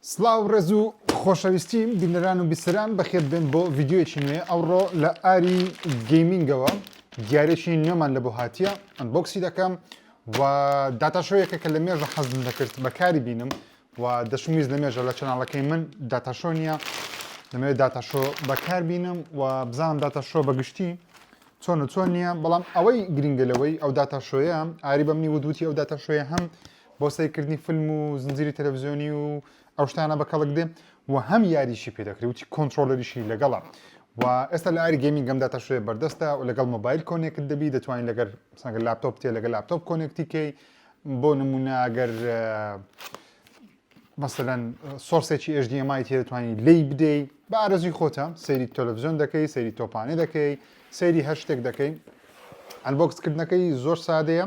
سڵاو ڕێز و خۆشەویستی بینەران و بیسەران بەخێر بێن بۆ ڤیدیۆیەکی نوێ ئەوڕۆ لە ئاری گەیمینگەوە دیارێکی نوێمان لە بۆ هاتیە ئەنبۆکسی دەکەم و داتاشۆیەکە کە لە مێژە حەزم دەکرد بەکاری بینم و دەشمویست لە مێژە لە چەناڵەکەی من داتاشۆ نییە لەمەوێت داتاشۆ بەکار بینم و بزانم داتاشۆ بەگشتی چۆن و چۆن نییە بەڵام ئەوەی گرنگە لەوەی ئەو داتاشۆیە ئاری بەمنی ودوتی ئەو داتاشۆیە هەم بۆ سەیرکردنی فلم و زنجیری تەلەڤزیۆنی و ئەو شتانە بە کەڵک دێ و هەم یاریشی پێ دەکرێت وتی کۆنترۆلەریشی لەگەڵە و ئێستا لە ئاری گەیمینگ گەمدا تا شوێ بەردەستە و لەگەڵ مۆبایل کۆنێکت دەبی دەتوانین لەگەر سەنگە لاپتۆپ تێ لەگە لاپتۆپ کۆنێکتیکەی بۆ نمونە ئەگەر مەسەەن سۆرسێکی HDMI تێ دەتوانین لی بدەی بە ئارەزوی خۆتە سەیری تەلەڤزیۆن دەکەی سەیری تۆپانێ دەکەی سەیری هەر شتێک دەکەی ئەلبکسکردنەکەی زۆر سادەیە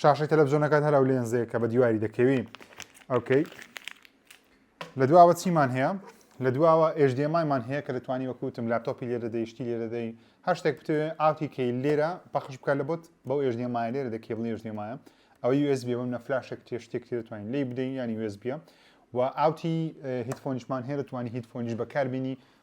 شاشەی تەلەڤزیۆنەکان هەر ئەو لێنزەیە کە بە دیواری دەکەوی ئەوکەی لە دواوە چیمان هەیە لە دواوە ئێژدێمایمان هەیە کە دەتوانی وەکوتم لاپتۆپی لێرە دەیشتی لێرە دەی هەر شتێک بتوێ ئاوتی کەی لێرە پەخش بکە لە بۆت بەو ئێژدێمایە لێرە دە کێبڵی ئێژدێمایە ئەوەی USB بم نە فلاشێک تێ شتێک تێ دەتوانین لی بدەین ینی USB و ئاوتی هیتفۆنیشمان هەیە دەتوانانی هیتفۆنیش بەکاربیینی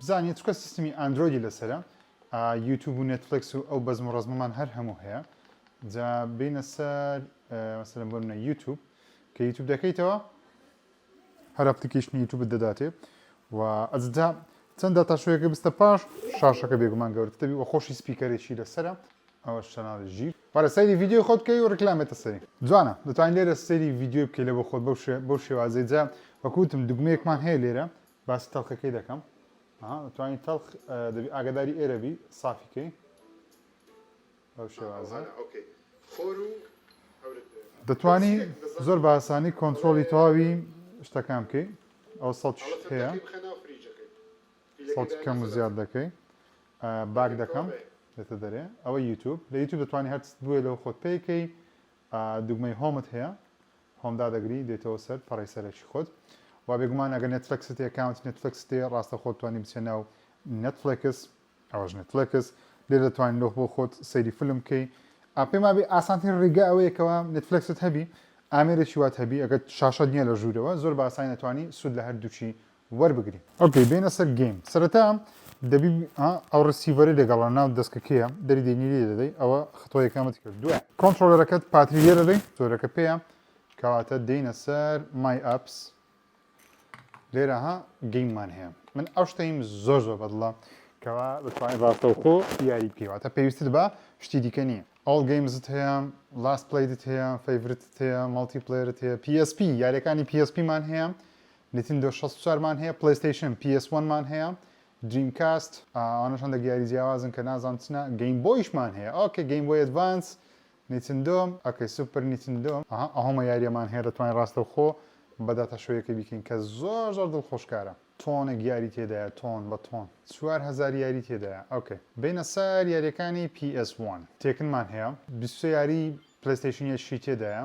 بزانیە چونکە سیستمی ئاندرۆیدی لەسەرە یوتوب و نێتفلێکس و ئەو بەزم و ڕەزمەمان هەر هەموو هەیە جا بینە سەر مەسەلەن بۆ منە یوتوب کە یوتوب دەکەیتەوە هەر ئەپلیکیشنی یوتوبت دەداتێ و ئەجدا چەند داتاشوەیەکە بستە پاش شاشەکە بێگومان گەورتە دەبی و خۆشی سپیکەرێکی لەسرە ئەوە شەناڵی ژیر بەرە سەیری ڤیددیو خۆت بکەی و ڕکلامێتە سەری جوانە دەتوانین لێرە سەیری ڤیددیو بکەی لە بۆ خۆت بەو شێوازەی جا وەکوتم دگمەیەکمان هەیە لێرە باسی تەڵخەکەی دەکەم ها توانی تەڵخ دەبی ئاگداری ئێرە بی سافی کەی ئەو شێوازە ئۆکەی خۆر و دەتوانی زۆر باسانی کۆنتترۆلی تەواوی شتەکان بکەیت ئەو سەڵ هەیە سەڵتی کەم و زیاد دەکەی باک دەکەم دێتە دەرێ ئەوە یوتوب لە یوتوب دەتوانانی هەرست بووێ لەو خۆت پێیکەی دوگمەی هۆمت هەیە هۆم دادەگری دێتەوە سەر پەڕەی سەرەکی خۆت و بێگومان ئەگەر نێتفلێکست هەیە ئەکاونتی نێتفلێکست هەیە ڕاستەوخۆ دەتوانی بچیە ناو نێتفلێکس ئەوەش نێتفلێکس لێ دەتوانی لۆ بۆ خۆت سەیری فلم بکەی ئا پێم وابێ ئاسانترین ڕیگا ئەوەیە کەوا نێتفلێکست هەبی ئامێرێکی وات هەبی ئەگەر شاشەت نییە لە ژوورەوە زۆر بە ئاسانی ئەتوانی سوود لە هەردووکی وەربگری. ئۆکەی بێینە سەر گەیم سەرەتا دەبی ها ئەو ڕسیڤەری لەگەڵە ناو دەسکە کێیە دەری دێنی لێ دەدەی ئەوە خطۆ یەکەمت کرد دوای کۆنتترۆلەرەکەت پاتری لێ دەدەی زۆرەکە پێەیە کەواتە دێینە سەر مای ئەپس لێرە ها گەیممان هەیە من ئەو شتەیم زۆر زۆر بەدڵە کەوا بتوانین ڕاستەوخۆ یاری بکەیواتە پێویستت بە شتی دیکە نییە ئەڵ گەیمزت هەیە لاست پلیدت هەیە فەیورتت هەیە مەڵتی پلێرت هەیە PSP یاریەکانی PSPمان هەیە نتیندۆ شەست و چوار مان هەیە پلەیستەیشن پی ئێس وەن مان هەیە دریم کاست ئەوانەش هەندەک یاری جیاوازن کە نازانم چنە گەیم بۆیشمان هەیە ئۆکەی گەیم بۆی ئەدڤانس نیتندۆ ئۆکەی سوپر نیتندۆ ئەها ئەهۆمە یاریەمان هەیە دەتوانین ڕاستەوخۆ بە داتا شۆیەکەی بیکەین کە زۆر زۆر دڵخۆشکارە تۆنێک یاری تێدایە تۆن بە تۆن چوار هەزار یاری تێدایە ئۆکەی بێینە سەر یاریەکانی پی ئێس وەن تێکنمان هەیە بیست و سێ یاری پلەیستەیشن یشی تێدایە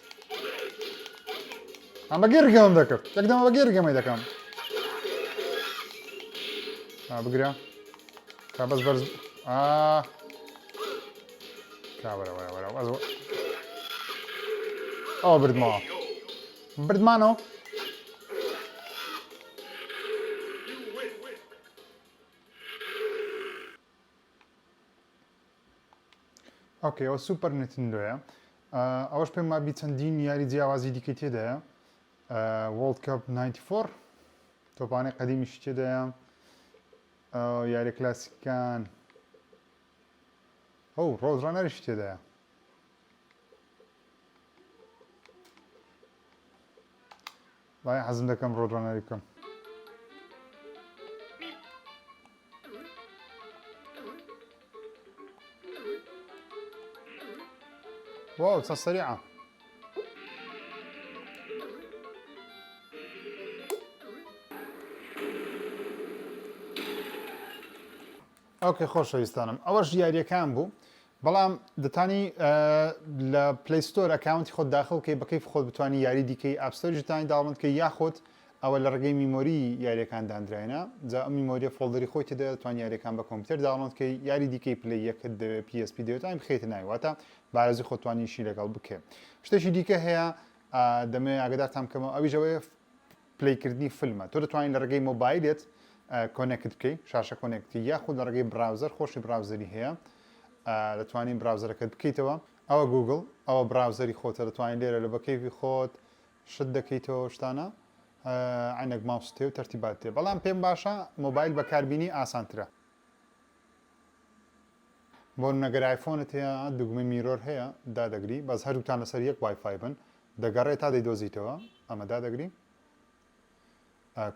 ئەمە گەرگەم دەکرد یەک دەمە بە گەرگەمەی دەکەم بگرە تا بەس بەرز ئەو بردمەوە بردمانەوە ئۆکەی ئەوە سوپەر نتندۆیە ئەوەش پێم مابی چەندین یاری جیاوازی دیکەی تێدایە وڵد کپ 94 تۆپانەی قەدیمیش تێدایە یاری کلاسیکان ئەو ڕۆژڕانەرش تێدایە وای حەزم دەکەم ڕۆدڕەنەری بکەم. واو چە سەریعە ئەوکە خۆشەویستانم ئەوەش یاریەکان بوو بەڵام دەتانی لە پلەی ستۆر ئەکاونتی خۆت داخڵ بکەی بە کەیف خۆت بتانی یاری دیکەی ئاپ ستۆریش دەتانی داڵند کەی یاخود ئەوە لە ڕێگەی میمۆری یاریەکان دانراینە جا ئەم میمۆریە فۆڵدەری خۆی تێدا دەتوان یاریەکان بە کۆمپیوتەر داڵند کەی یاری دیکەی پلەی یەکت دەوێت PSP دەوێتانی بخیتە ناوی واتە بارزی خۆتوانیشی لەگەڵ بکەێت شتێکی دیکە هەیە دەمێ ئاگدارتان بکەمەوە ئەویش ئەوەیە پلەی کردنی فلمە تۆ دەتوانین لە ڕێگەی مۆبایلێت کۆنێکت بکەی شاشە کۆنێکتی یاخود لە ڕێگەی براوزەر خۆشی براوزەری هەیە دەتوانین براوزەرەکەت بکەیتەوە ئەوە گوگل ئەوە براوزەری خۆتە دەتوانین لێرە لە بەکەیوی خۆت شت دەکەیتەوە شتانە عینەک ماوس تێ و تەرتیبات تێ بەڵام پێم باشە مۆبایل بەکاربیینی ئاسانترە بۆ نەگەر آیفۆنت هەیە دوگمە میرۆر هەیە دادەگری بەس هەردووتان لەسەر یەک وایفای بن دەگەڕێ تا دەیدۆزیتەوە ئەمە دادەگری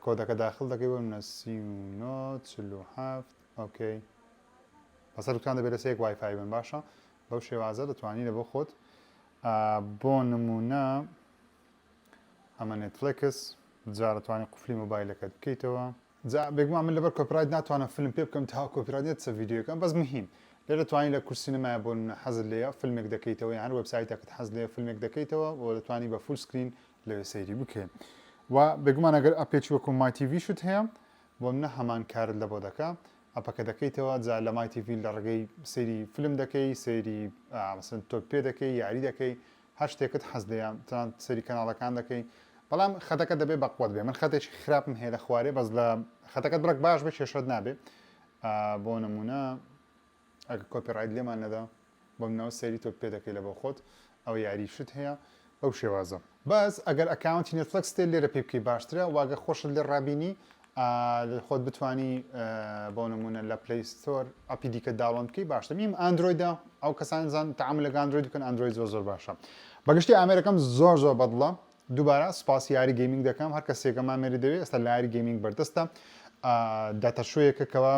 کۆدەکە داخل دەکەی بۆ منە سی و نۆ چل و هەفت ئۆکەی بەسەر دوکان دەبێت لە سێک وایفای بن باشە بەو شێوازە دەتوانی لە بۆ خۆت بۆ نمونە ئەمە نێتفلکس جارەتوانی قفلی مۆبایلەکەت بکەیتەوە جا بێگومان من لەبەر کۆپیرایت ناتوانم فلم پێ بکەم تاوەکو کۆپیرایت نەتچە ڤیدیۆکە بەس مهیم لێرە توانی لە کورسی نمایە بۆ نمونە حەزت لێیە فلمێک دەکەیتەوە یان هەر وێبسایتەکت حەز لێیە فلمێک دەکەیتەوە و دەتوانی بە فول سکرین لەوێ سەیری بکەی و بێگومان ئەگەر ئەپێکی وەکو مای تیڤیشت هەیە بۆ منە هەمان کارت لە بۆ دەکە ئەپەکە دەکەیتەوە جا لە مای تیڤی لە ڕگەی سەیری فلم دەکەی سەیری مەسەن تۆپ پێ دەکەی یاری دەکەی هەر شتێکت حەز لێیە تەنانەت سەیری کەناڵەکان دەکەی بەڵام خەتەکە دەبێ بەقوەت بێ من خەتێکی خراپم هەیە لە خوارێ بەس لە خەتەکەت بڕێک باش بە کێشەت نابێ بۆ نمونە ئەگە کۆپی ڕایت لێمان نەدا بۆ منەوە سەیری تۆ پێ دەکەی لە بۆ خۆت ئەو یاری شت هەیە بەو شێوازە بەس ئەگەر ئەکاونتی نێتفلکس تێ لێرە پێ بکەی باشترە واگە خۆشت لێ ڕابینی ئەگەر خۆت بتوانی بۆ نمونە لە پلەی ستۆر ئەپی دیکە داوڵۆن بکەی باشتر نیم ئەندرۆیدا ئەو کەسان زان تەعامل لەگە ئەندرۆید بکەن ئەندرۆید زۆر زۆر باشە بەگشتی ئامێرەکەم زۆر زۆر بەدڵە دووبارە سوپاسی یاری گەیمینگ دەکەم هەر کەسێکە مامێری دەوێت ئێستا لاری گەیمینگ بەردەستە داتەشوەیەکە کەەوە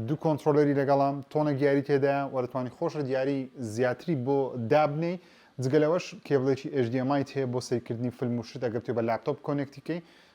دوو کۆنتترۆلەری لەگەڵام تۆنە گیاری تێدا وەرتوانی خۆش دیاری زیاتری بۆ دابنەی جگەلەوەش کێبلێکی ئێژدیمای هەیە بۆ سیرکردنی فیلم و شت ئەگەر تێ بە لاپتۆپ کۆنێکتیکەی